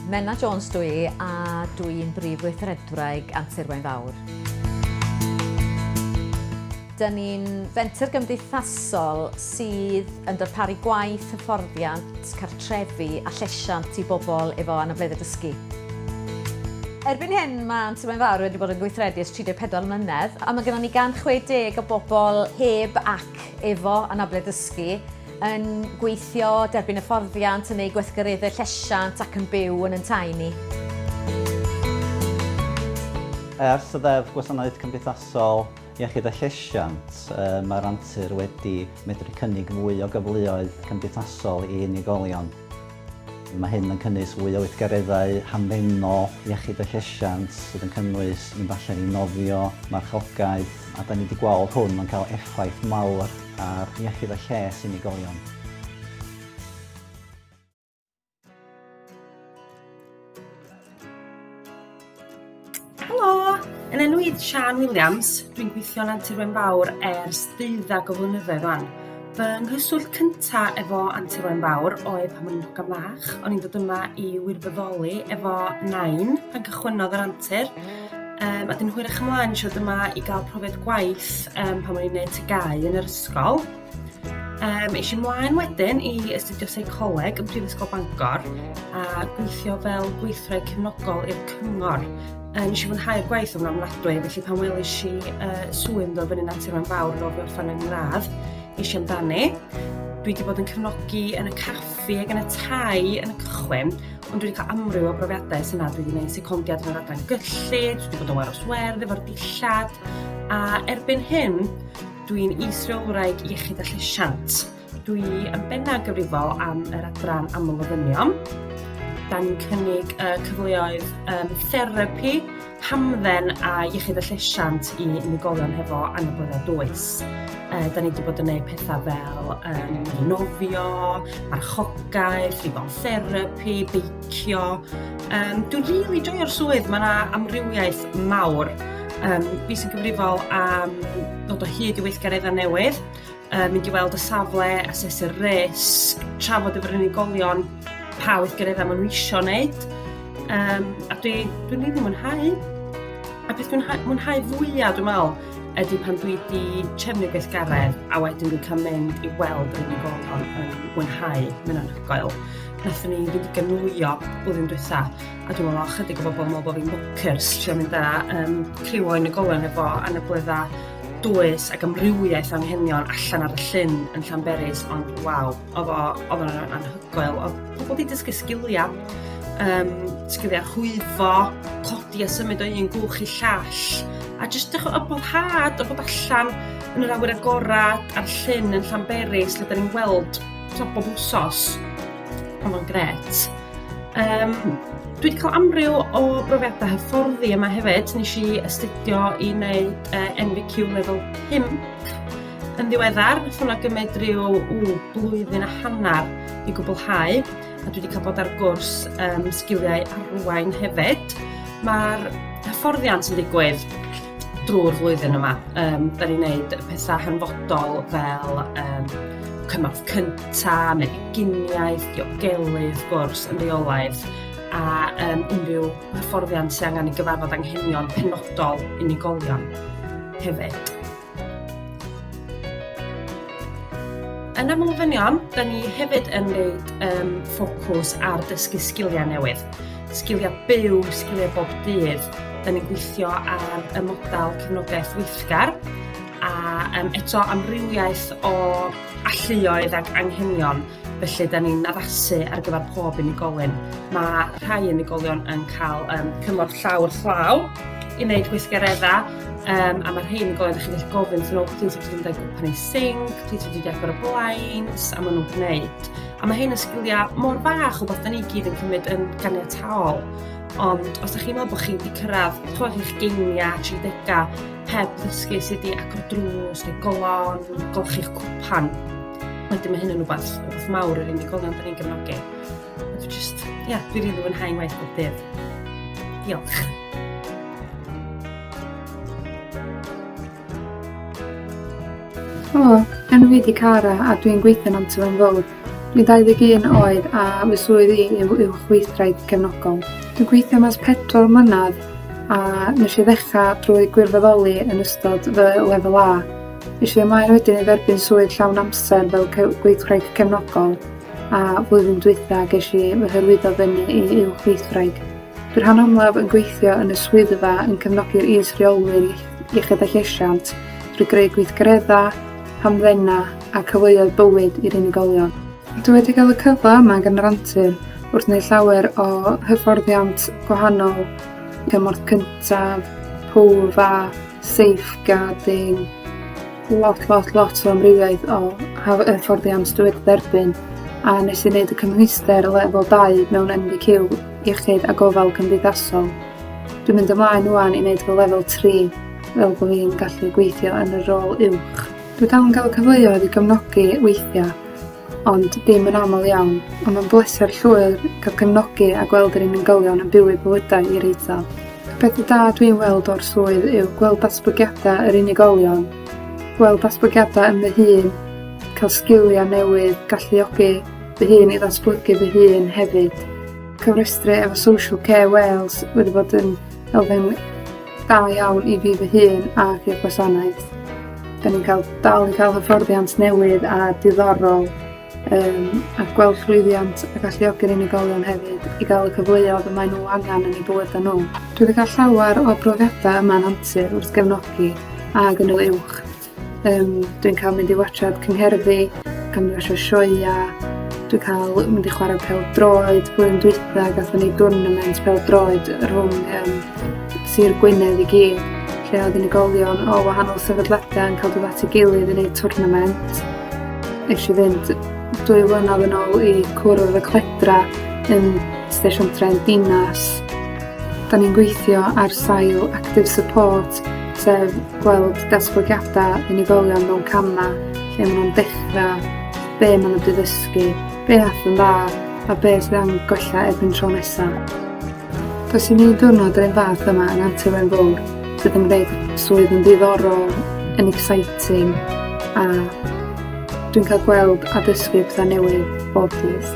Menna Jones dwi i a dwi i'n brif weithredwraig Antur Wain Fawr. Dyn ni'n fenter gymdeithasol sydd yn darparu gwaith, hyfforddiant, cartrefi, trefi a llesiant i bobl efo anableddau dysgu. Erbyn hyn, mae Anti Mae'n Fawr wedi bod yn gweithredu ers 34 mlynedd a mae gennym ni 160 o bobl heb ac efo anableddau dysgu yn gweithio, derbyn hyfforddiant, yn eu gweithgareddau llesiant ac yn byw yn ein tai ni. Ers y Ddeddf Gwasanaeth Cymdeithasol Iechyd a Llesiant, mae'r antur wedi medru cynnig mwy o gyfleoedd cymdeithasol i unigolion. Mae hyn yn cynnwys fwy o weithgareddau hamddenol iechyd a llesiant sydd yn cynnwys mynd allan i nofio, marchogaeth, a da ni wedi gweld hwn yn cael effaith mawr ar iechyd a lles unigolion. Helo! Yn enw i Sian Williams, dwi'n gweithio'n Antur Wen Fawr ers deuddag o flynyddoedd rwan. Fy nghyswllt cyntaf efo Antur Wen Fawr oedd pan o'n i'n hogan fach. O'n i'n dod yma i wirfoddoli efo nain pan cychwynnodd yr antur. Um, a dyn hwyr eich ymlaen siwr yma i gael profiad gwaith um, pan o'n i'n gwneud tygau yn yr ysgol. Um, eisiau mlaen wedyn i astudio seicoleg yn Prifysgol Bangor a gweithio fel gweithred cefnogol i'r cyngor. Um, eisiau fwynhau'r gwaith o'n amladwy, felly pan welis i uh, swy'n dod fyny natur yn fawr yn ofio fan yn gradd, eisiau amdani. Dwi wedi bod yn cefnogi yn y caffi ac yn y tai yn y cychwyn, ond dwi wedi cael amryw o brofiadau sy'n nad dwi wedi gwneud secondiad yn yr adran gyllid, dwi wedi bod yn waros werdd efo'r dillad, a erbyn hyn, Dwi'n is-reolwraig iechyd a llesiant. Dwi yn bennaf gyfrifol am yr adran amlofynion. Da ni'n cynnig y cyfleoedd um, therapi, hamdden a iechyd a llesiant i unigolion hefo anabledda dwys. Uh, da ni wedi bod yn gwneud pethau fel um, nofio, marchogaeth, rifol therapi, beicio, licio. Um, dwi'n rili really joio'r swydd, mae yna amrywiaeth mawr. Um, fi sy'n gyfrifol am dod o hyd i weithgareddau newydd, um, mynd i weld y safle, asesu'r risg, trafod efo'r unigolion pa weithgareddau maen nhw eisiau wneud. Um, a dwi'n dwi rili really mwynhau. A beth dwi'n mwynhau fwyaf, dwi'n meddwl, ydy pan dwi wedi trefnu gweithgaredd a wedyn dwi'n cael mynd i weld yr unigolion yn mwynhau, mynd anhygoel. Nathon ni fynd i gynllwyo blwyddyn diwetha, a dwi'n meddwl chydig o bobl yn meddwl bod fi'n bonkers trio mynd â um, criw o unigolion efo anabledda dwys ac amrywiaeth o'n henion allan ar y llyn yn Llanberis, ond waw, oedd o'n anhygoel. Oedd pobl wedi dysgu sgiliau, um, sgiliau rhwyfo, codi a symud o un gwch i llall, a jyst dechrau o boddhad o bod allan yn yr awyr agored a'r llyn yn Llanberis, lle da ni'n gweld top bob wsos. Oedd o'n gret. Um, dwi wedi cael amryw o brofiadau hyfforddi yma hefyd. Nes i astudio i wneud uh, NVQ level 5 yn ddiweddar. Nath hwnna gymryd rhyw ww, blwyddyn a hanner i gwblhau. a dwi wedi cael bod ar gwrs um, sgiliau arwain hefyd. Mae'r hyfforddiant yn digwydd drwy'r flwyddyn yma. Um, da ni'n gwneud pethau hanfodol fel um, cymorth cynta, meginiaeth, diogelu, wrth gwrs, yn reolaidd, a um, unrhyw hyfforddiant sy'n angen i gyfarfod anghenion penodol unigolion hefyd. Yn y Mlwyddonion, da ni hefyd yn gwneud um, ffocws ar dysgu sgiliau newydd. Sgiliau byw, sgiliau bob dydd. Da ni'n gweithio ar y model cefnogaeth weithgar a um, eto amrywiaeth o alluoedd ac anghenion Felly, da ni'n addasu ar gyfer pob unigolyn. Mae rhai unigolion yn cael um, cymorth llawr llaw i wneud gweithgareddau, um, a mae rhai unigolion chi'n gallu gofyn wrthyn nhw, plis ydych chi'n dweud gwpan ei sing, plis ydych chi'n agor y blinds, a maen nhw'n gwneud. A mae hyn yn sgiliau mor bach o beth da ni gyd yn cymryd yn ganiataol. Ond os ydych chi'n meddwl bod chi'n wedi cyrraedd chwech eich geiniau, 30au, heb ddysgu sut i agor drws neu golon, golchi'ch cwpan, Wedyn mae hyn yn rhywbeth, rhywbeth mawr yr unigolion da ni'n gefnogi. Dwi'n just, ia, yeah, dwi'n rili fwynhau ngwaith bob dydd. Diolch. Helo, enw fi di Cara a dwi'n gweithio yn Antilen Fowr. Dwi'n 21 oed a fy swydd i yw uwchweithraid cefnogol. Dwi'n gweithio mas pedwar mlynedd a nes i ddechrau drwy gwirfoddoli yn ystod fy lefel A Felly ymlaen wedyn i dderbyn swydd llawn amser fel gweithwraig cefnogol a flwyddyn dwytha ges i fy hyrwyddo fyny i uwch weithwraig. Dwi rhan amlaf yn gweithio yn y swyddfa yn cefnogi'r is-reolwyr iechyd a llesiant drwy greu gweithgaredda, hamddenna a cyfleoedd bywyd i'r unigolion. Dwi wedi cael y cyfle yma gan yr antur wrth wneud llawer o hyfforddiant gwahanol, cymorth cyntaf, pwf a safeguarding, lot, lot, lot o amrywiaeth o hyfforddiant dwi wedi derbyn a nes i wneud y cymhwyster lefel 2 mewn MBQ iechyd a gofal cymdeithasol. Dwi'n mynd ymlaen wwan i wneud fy lefel 3 fel bod fi'n gallu gweithio yn y rôl uwch. Dwi dal yn cael y cyfleoedd i gefnogi weithiau ond ddim yn aml iawn, ond mae'n bleser llwyr cael cefnogi a gweld yr unigolion yn byw eu bywydau i'r eithaf. Y pethau da dwi'n weld o'r swydd yw gweld datblygiadau yr unigolion, gweld datblygiadau yn fy hun, cael sgiliau newydd, galluogi fy hun i ddatblygu fy hun hefyd. Cyfrestru efo Social Care Wales wedi bod yn elfen Da iawn i fi fy hun ac i'r gwasanaeth. Da ni'n cael dal i cael hyfforddiant newydd a diddorol um, a gweld llwyddiant a galluogi'r unigolion hefyd i gael y cyfleoedd y maen nhw angen yn eu bywydau nhw. Dwi wedi cael llawer o brofiadau yma'n antur wrth gefnogi a gynnyl uwch Um, dwi'n cael mynd i watchad cyngherddi, cael mynd i watchad sioia, dwi'n cael mynd i chwarae pel droed, blwyddyn dwytha gatho ni dwrnament pel droed rhwng um, Sir Gwynedd i gyd, lle oedd unigolion o wahanol sefydliadau yn cael dod at ei gilydd i wneud twrnament. Nes i fynd dwy flynedd yn ôl i cwrdd y cledra yn Station Tren Dinas Da ni'n gweithio ar sail active support, sef gweld datblygiadau unigolion mewn camau lle maen nhw'n dechrau, be maen nhw wedi ddysgu, be all yn dda a be sydd am gwella erbyn tro nesaf. Does i ni ddiwrnod yr un fath yma yn Antur Wen Fawr sydd yn gwneud swydd yn ddiddorol, yn exciting a dwi'n cael gweld a dysgu pethau newydd bob dydd.